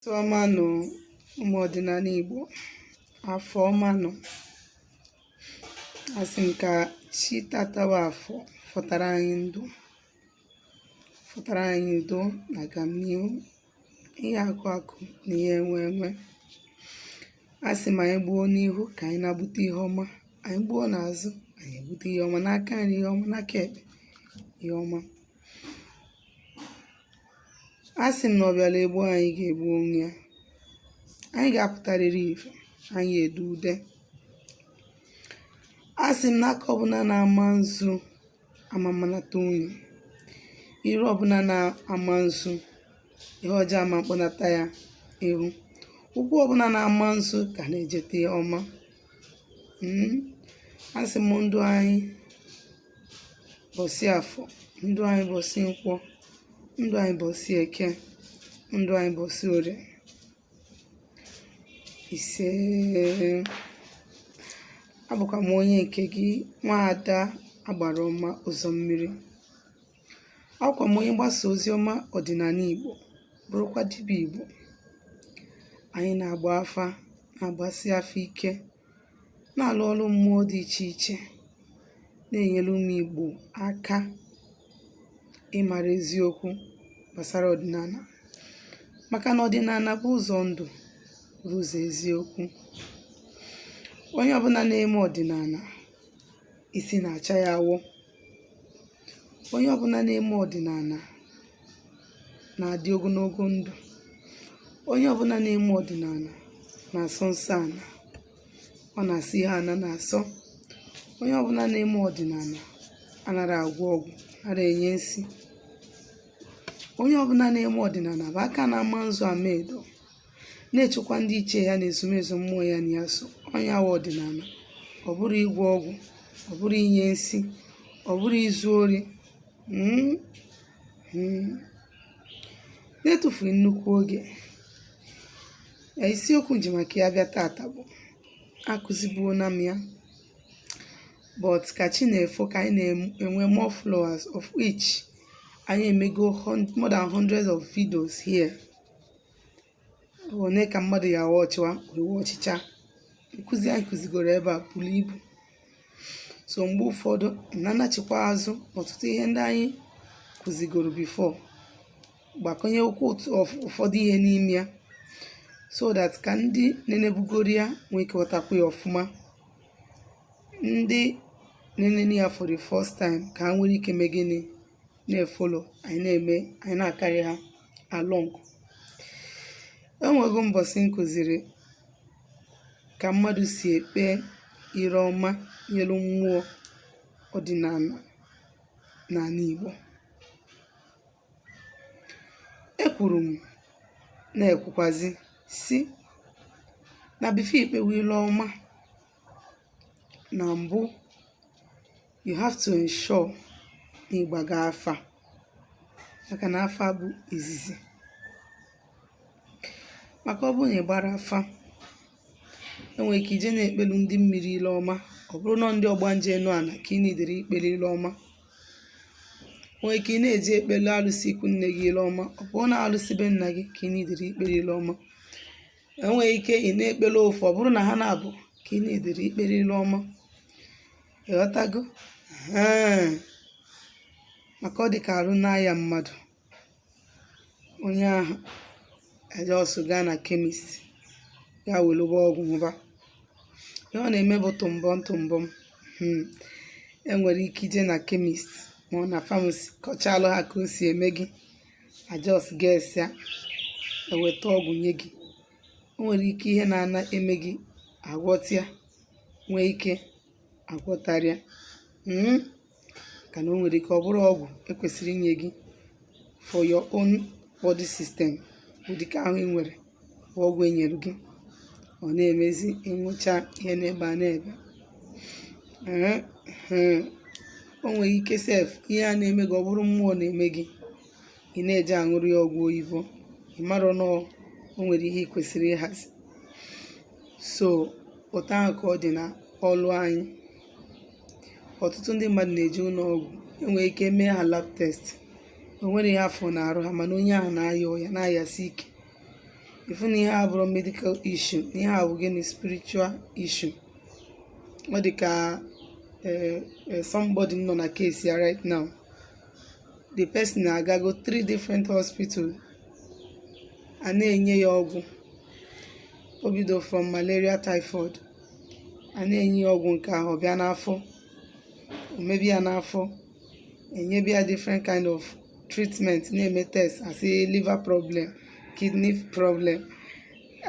ọma nụ ụmụ ọdịnala Igbo afọ ọma nụ asị m ka chi tata bụ afọ fọtara anyị ndụ fọtara anyị udo na agamnihu ihe akụ akụ na ihe enwe enwe asị m anyị gbuo n'ihu ka anyị na-egbute ihe ọma anyị gbuo n'azụ anyị egbute ihe ọma n'aka nri ihe ọma n'aka ekpe ihe ọma asị m na ọ bịara egbu anyị ga-egbu onwe ya anyị ga-apụtarịrị ife anyị ede ude asị m na aka ọbụla na-ama nzu ama mmanata unyi iru ọbụla na-ama nzu ihe ọjọọ ama mkpọnata ya ihu ụkwụ ọbụla na-ama nzu ka na-ejete ọma Mm. asị m ndụ anyị bọsị afọ ndụ anyị bọsị nkwọ ndụ anyị bọsị eke ndụ anyị bọsị orie ise abụkwa m onye nke gị nwaada agbara ọma ụzọ mmiri abụkwa m onye mgbasa ozi ọma ọdịnala igbo bụrụkwa dibịa igbo anyị na-agba afa na-agbasi afa ike na-alụ ọrụ mmụọ dị iche iche na-enyere ụmụ Igbo aka ịmara eziokwu gbasara ọdịnala maka na ọdịnala bụ ụzọ ndụ bụ ụzọ eziokwu onye ọbụla na-eme ọdịnala isi na-acha ya awọ Onye ọbụla na-eme ọdịnala na-adị ogologo ndụ. Onye ọbụla na-eme ọdịnala na-asọ nsọ ala. Ọ na-asọ ihe ala na-asọ. Onye ọbụla na-eme ọdịnala anaghị agwọ ọgwụ, anaghị enye nsi. Onye ọbụla na-eme ọdịnala bụ aka na-ama nzu ama edo. na-echekwa ndị ichie ya na ezumezu mmụọ ya na ya so ọ nya wụ ọdịnala ọ bụrọ ịgwọ ọgwụ ọ bụrọ inye nsi ọ bụrọ izu ori mm, mm. na-etufughị nnukwu oge isiokwu m ji maka ya bịa tata bụ akụzibuona m ya but ka chi na-efo ka anyị na-enwe more followers of which anyị emego hun- more than hundreds of videos here one ka mmadụ ya awa ọchịwa ewe ọchịcha nkụzi anyị kụzigoro ebe a buru ibu so mgbe ụfọdụ na-anachikwa azụ ọtụtụ ihe ndị anyị kụzigoro before gbakọnyekwuo otu ọf- ụfọdụ ihe n'ime ya so that ka ndị nenebugoro ya nwee ike ghọtakwa ya ọfụma ndị na-enene ya for the first time ka ha nwere ike mee gịnị na-efolo anyị na-eme anyị na-akarị ha along enwego mbọsị m kụziri ka mmadụ si ekpe ire ọma nyelu mmụọ ọdịnala n'ala Igbo ekwuru m na-ekwukwazi sị na before ikpewe ile ọma na mbụ you have to ensure na ị gbago afa maka na afa bụ izizi maka ọ bụrụ na ị gbara afa enwere ike ị je na-ekpelu ndị mmiri ile ọma ọ bụrụ na ndị ọgbanje enu ana ka ị needịrị ikpelu ile ọma nwee ike ị na-eje ekpelu alụsị ikwu nne gị ile ọma ọ bụrụ na alụsị be nna gị ka ị needịrị ikpelu ile ọma enwere ike ị na-ekpere ofu ọ bụrụ na ha naabọ ka ị needịrị ikpere ilu ọma ịghọtago Ee. maka ọ dị ka arụ na-aya mmadụ onye ahụ a just gaa na chemist ya welụba ọgwụ ṅụba ihe ọ na-eme bụ tụmbọm tụmbọm Hmm. enwere ike ị je na chemist ma ọ na pharmacy kọchalụ ha ka o si eme gị a just gesịa eweta ọgwụ nye gị o nwere ike ihe na-ana eme gị agwọta ya nwee ike agwọtarọ ya mm? kana o nwere ike ọ bụrọ ọgwụ ekwesịrị inye gị for your own body system ụdịka ahụ ị nwere ọgwụ enyere gị ọ na-emezi ị ṅụchaa ihe n'ebe a na-ebe o nwere ike sef ihe a na-eme gị ọ bụrụ mmụọ na-eme gị ị na-eje aṅụrụ ya ọgwụ oyibo ị marọ na o nwere ihe ị kwesịrị ịhazi so otu ahụ ka ọ dị na ọlụ anyị ọtụtụ ndị mmadụ na-eje ụlọ ọgwụ enwere ike mee ha lab test o nwerọ ihe afụ n'arụ ha mana onye ahụ na-aya ọya na-ayasi ike ị fụ na ihe a abụrọ medical issue na ihe a bụ gịnị spiritual issue ọ dị ka eh, eh, somebody m nọ na case ya right now the person agago three different hospital a na-enye ya ọgwụ o bido from malaria typhoid a na-enye ya ọgwụ nke ahụ bịa n'afọ o mebe ya n'afọ enyebe ya different kind of treatment na-eme test asị liver problem kidney problem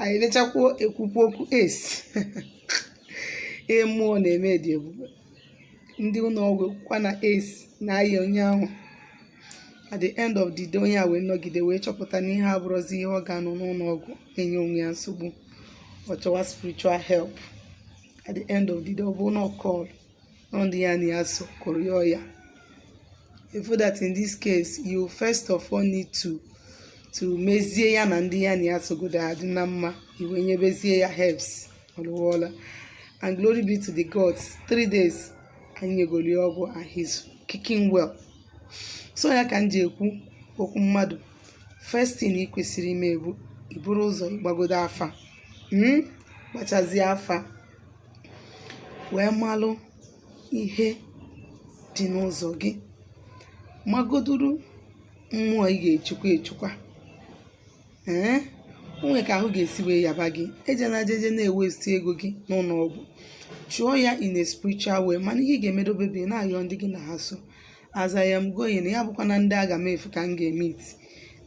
anyị lechakwuo ekwukwu okwu ace ihe mmụọ na-eme dị egwu ndị ụlọ ọgwụ ekwukwa na ace na-aya onye ahụ at the end of the day onye a wee nọgide wee chọpụta na ihe a abụrọzi ihe ọ ga-anọ n'ụlọ ọgwụ enye onwe ya nsogbu ọ chọwa spiritual help at the end of the day ọ bụ na ọ call nọ ndị ya na ya so kụrụ ya ọya ị fụ that in this case you first of all need to to mezie ya na ndị ya na ya sogodo adị na mma i wee nyebezie ya herbs ọlụwọla and glory be to the gods three days anyị nyegoli ọgwụ and he's kicking well so ya ka m ji ekwu okwu mmadụ first thing ị kwesịrị ime bụ iburu ụzọ ịgbagodo afa mm? gbachazie afa wee malụ ihe dị n'ụzọ gị magoduru mmụọ ị ga-echukwa echukwa ee o nwee ka ahụ ga-esi wee yaba gị ejena jeje na-ewesti ego gị n'ụlọ ọgwụ chụọ ya in a spiritual way mana ihe ị ga-emedobe bụ ị na-ayọ ndị gị na ha so as I am going ya abụkwana ndị agamefu ka m ga-emeet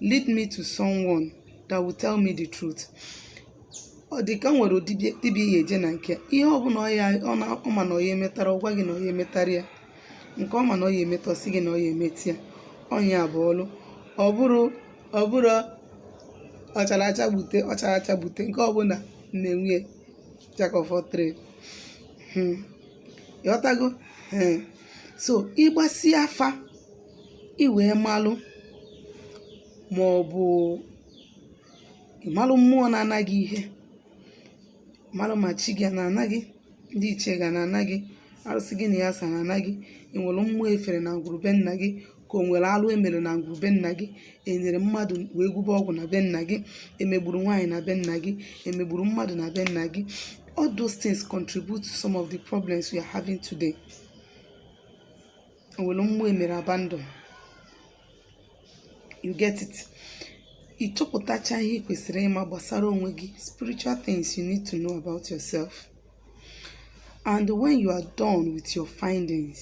lead me to someone that will tell me the truth ọ dị ka o nwere dibịa ị ya-eje na nke ya ihe ọ bụla ọ ma na ọ ya emetara ọ gwa gị na ọ ya emetara ya nke ọ ma na ọ ya emeta ọ sị gị na ọ ya emeta ya onye ya bụ ọlụ ọ bụrụ ọ bụrụ ọchara acha gbute ọchara acha gbute nke ọbụla na-enwe jack of all trade Hmm. ịghọtago Ee. so ị gbasịa afa i wee malụ ma ọ bụ ịmalụ mmụọ na-ana gị ihe malụ ma chi gị na-ana gị ndị ichie gị na-ana gị arụsị gị na ya so na-ana gị e nwere mmụọ e fere na ngwuru be nna gị ka o nwere alụ e mere na ngwuru be nna gị e nyere mmadụ wee gwube ọgwụ na be nna gị e megburu nwaanyị na be nna gị e megburu mmadụ na be nna gị all those things contribute to some of the problems we are having today o nwere mmụọ e mere abandon you get it ị chọpụtachaa ihe ị kwesịrị ịma gbasara onwe gị spiritual things you need to know about yourself and when you are done with your findings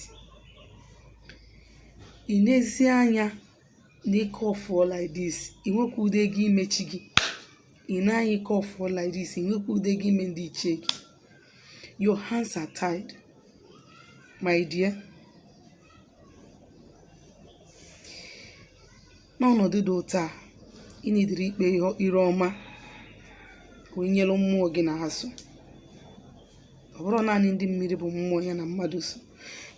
i nezie anya na ike ọfụọ like this ị nwekwa ụdị ego ime chi gị i nee anya ike ọfụọ like this ị nwekwa ụdị ego ime ndị ichie gị your hands are tied my dear n'ọnọdụ dị otu a ị needịrị ikpe ire ọma ka o nyere mmụọ gị na ha so ọ bụrọ naanị ndị mmiri bụ mmụọ ya na mmadụ so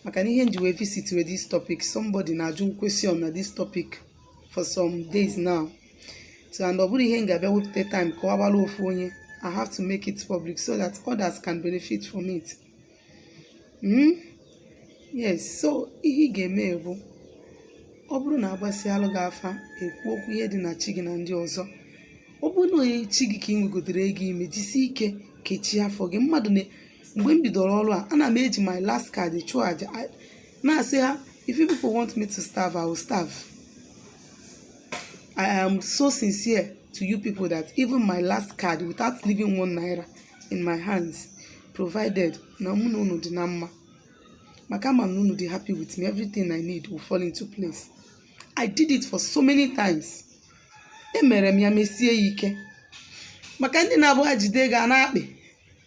maka na ihe m ji wee visit with this topic somebody na-ajụ question na this topic for some days now so and ọ bụrọ ihe m ga-abịa wepụta time kọbara ofu onye I have to make it public so that others can benefit from it. hmm? yes so ihe ị ga-eme bụ ọ bụrụ na agbasịalụ gị afa ekwu okwu ihe dị na chi gị na ndị ọzọ ọ bụrụ naanị chi gị ka ị nwegodoro ego ime jisi ike kechie afọ gị mmadụ na mgbe m bidoro ọrụ a ana m eji my last card chụọ aja na-asị ha if you people want me to starve i will starve i am so sincere to you people that even my last card without leaving one naira in my hands provided na mụ na unu dị na mma maka ama m na unu dị happy with me everything I need will fall into place I did it for so many times emere m ya mesie ya ike maka ndị na-abụ ha jide gị a na-akpị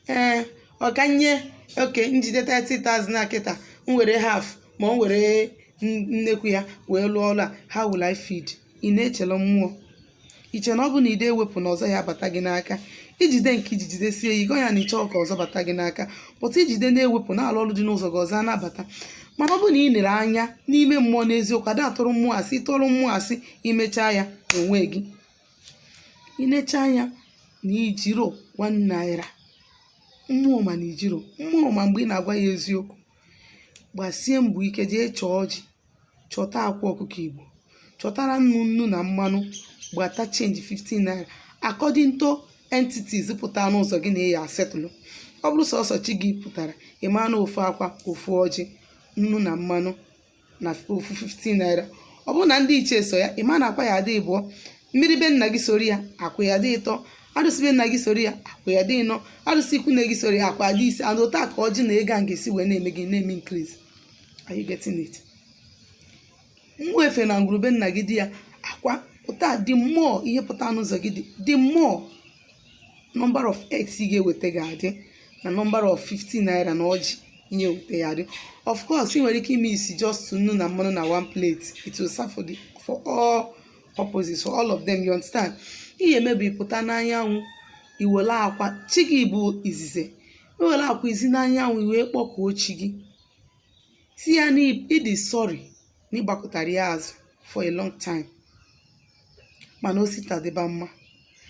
ee ọkanye okay m jide 30,000 na kịta m were half ma m were n- nnekwu ya wee lụọ ọlụ a how will I feed ị na-echela mmụọ i che na ọ bụ na ị da ewepụ na ọzọ ya abata gị n'aka i jide nke i ji jidesie ya ike ya na ị chọọ ka ọzọ bata gị n'aka but i jide na-ewepụ na-alụ ọrụ dị n'ụzọ gị ọzọ a na-abata mana ọ bụ na ị lere anya n'ime mmụọ n'eziokwu ada atụrụ mmụọ asị ị tụrụ mmụọ asị imechaa ya onwe gị inecha anya na ijiro one naira mmụọ ma na ijiro mmụọ ma mgbe ị na-agwa ya eziokwu gbasie mbọ ike jee chọọ ọjị chọta akwa ọkụkọ igbo chọtara nnu nnu na mmanụ gbata change 50 naira according to entities pụta n'ụzọ gị na ị ya settle ọ bụrụ sọsọ chi gị pụtara ị maa na ofu akwa ofu ọjị nnu na mmanụ na ofu 50 naira ọ bụrụ na ndị ichie so ya ị ma na akwa ya adị ịbụọ mmiri be nna gị soro ya akwa ya dị ịtọ arụsị be nna gị soro ya akwa ya dị ịnọ arụsị ikwu nne gị soro ya akwa ya dị ise and otu a ka ọjị na ego a ga-esi wee na-eme gịnị na-eme increase are you getting it nwee ife na ngwuru be nna gị dị ya akwa pụta the more ihe pụta n'ụzọ gị the the more number of eggs ị ga-eweta ga-adị na number of 50 naira na ọjị ị ga-eweta ya adị of course ị nwere ike imesi just nnu na mmanụ na one plate it will serve for, the, for all purposes for all of them you understand ihe ị ya-eme bụ ị pụta n'anyanwụ i wele akwa chi gị bụ izizi i were akwa zi n'anyanwụ i wee kpọkuo chi gị sị ya na ị dị sorry na ị gbakụtara ya azụ for a long time mana o si taa dịba mma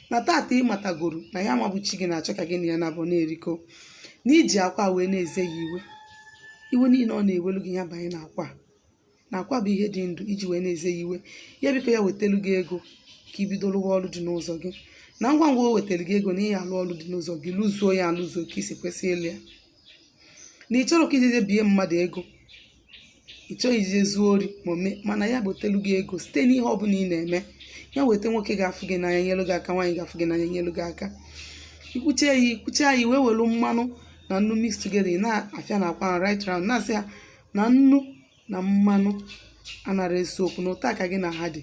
na tata ị matagoro na ya nwa bụ chi gị na-achọ ka gị na ya na-abụ na-erikọ na i ji akwa wee na-eze ya iwe iwe niile ọ na-ewelu gị ya banye n'akwa a na akwa bụ ihe dị ndụ iji wee na-eze ya iwe ya biko ya wetelu gị ego ka i bido lụwa ọrụ dị n'ụzọ gị na ngwa ngwa o wetara gị ego na ị ya-alụ ọrụ dị n'ụzọ gị lụzuo ya alụzuo ka i si kwesị ịlụ ya na ị chọrọ ka i ji je bie mmadụ ego ị chọghị iji je zuo ori ma ome mana ya wetelu gị ego site n'ihe ọ bụla ị na-eme ya weta nwoke ga-afụ gị n'anya nyelu gị aka nwaanyị ga-afụ gị n'anya nyelu gị aka i kwuchaa ya i kwuchaa ya i wee welu mmanụ na nnu mix together ị na-afịa na akwa right round na-asị ya na nnu na mmanụ anara ese okwu na otu a ka gị na ha dị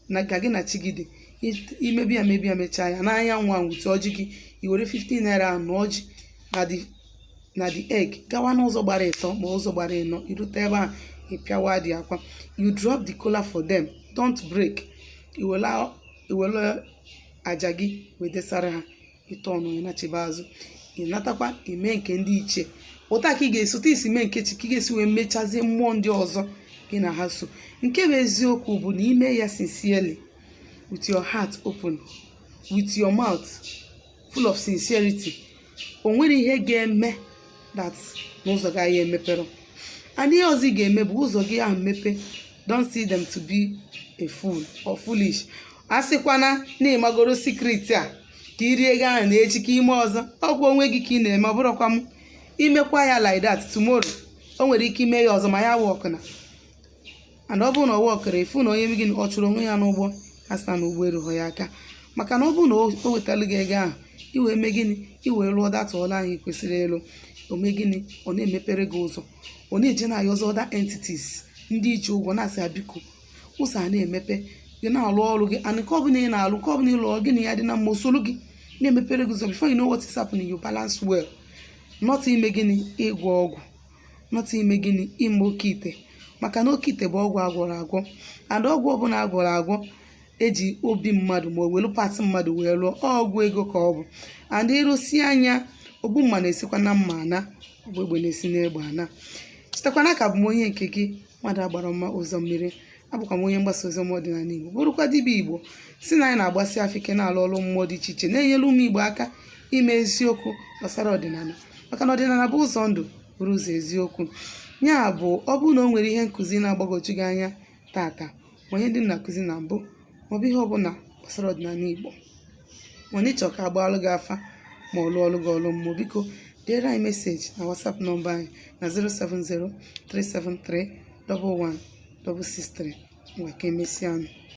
na ka gị na chi gị dị It- i mebe ya mebe ya mechaa ya n'anya ngwa wete ọjị gị i were 15 naira ahụ na ọjị na the na the egg gawa n'ụzọ gbara ịtọ ma ụzọ gbara ịnọ i rute ebe ahụ ị pịawa the akwa you drop the kola for them don't break i wele i wele aja gị wee desara ha ị tọọ ọnụ ị nachiba azụ ị natakwa i mee nke ndị ichie otu a ka ị ga-esi otu i si mee nke chi ka ị ga-esi wee mechazie mmụọ ndị ọzọ gị na ha so nke bụ eziokwu bụ na i mee ya sincerely with your heart open with your mouth full of sincerity o nwere ihe ga-eme that na ụzọ gị ahụ emepere and ihe ọzọ ị ga-eme bụ ụzọ gị ahụ mepe don't see them to be a fool or foolish asịkwana na ị magoro secret a ka i rie ego ahụ na echi ka i mee ọzọ ọ kwa onwe gị ka ị na-eme ọ bụrụkwa ma i mekwa ya like that tomorrow o nwere ike i mee ya ọzọ ma ya workuna and ọ bụrụ na ọ workurọ ị fụ na onye gị ọ chụrụ onwe ya n'ụgbọ asị na ụgbọ erughọ ya aka maka na ọ bụrụ na o wetalu gị ego ahụ i wee mee gịnị i wee lụọ that ọlụ ahụ ị kwesịrị ịlụ o mee gịnị ọ na-emepere gị ụzọ ọ na-eje na-ayọzị other entities ndị i ji ụgwọ na-asị ya biko ụzọ a na-emepe gị na-alụ ọrụ gị and nke ọbụla ị na-alụ nke ọbụla ị lụrụ gị na ya dị na mma o soro gị na-emepere gị ụzọ before you know what is happening you balance well not ime gịnị ịgwọ ọgwụ not ime gịnị ime oke ite maka na oke ite bụ ọgwụ agwọrọ agwọ and ọgwụ ọbụla agwọrọ agwọ e ji obi mmadụ ma o welu part mmadụ wee lụọ ọ ọgwụ ego ka ọ bụ and ị rụsịa ya ogbu mma na-esikwa na mma ana ogbu egbe na-esi n'egbe ana chetakwa na a ka bụ m onye nke gị mmadụ agbara mma ụzọ mmiri abụkwa m onye mgbasa ozi ọma ọdịnala Igbo bụrụkwa dibịa Igbo sị na anyị na-agbasi afa ike na-alụ ọrụ mmụọ dị iche iche na-enyere ụmụ Igbo aka ime eziokwu gbasara ọdịnala maka na ọdịnala bụ ụzọ ndụ bụrụ ụzọ eziokwu ya bụ ọ bụrụ na o nwere ihe nkụzi na-agbagwoju gị anya tata ma ihe ndị m na-akụzi na mbụ maọbụ ihe ọbụla gbasara ọdịnala Igbo ma na ị chọọ ka a gbaalụ gị afa ma ọ lụọlụ gị ọlụ mmụọ biko deere anyị meseji na WhatsApp nọmba anyị na 070 373 11163 ngwa ka emesịa nụ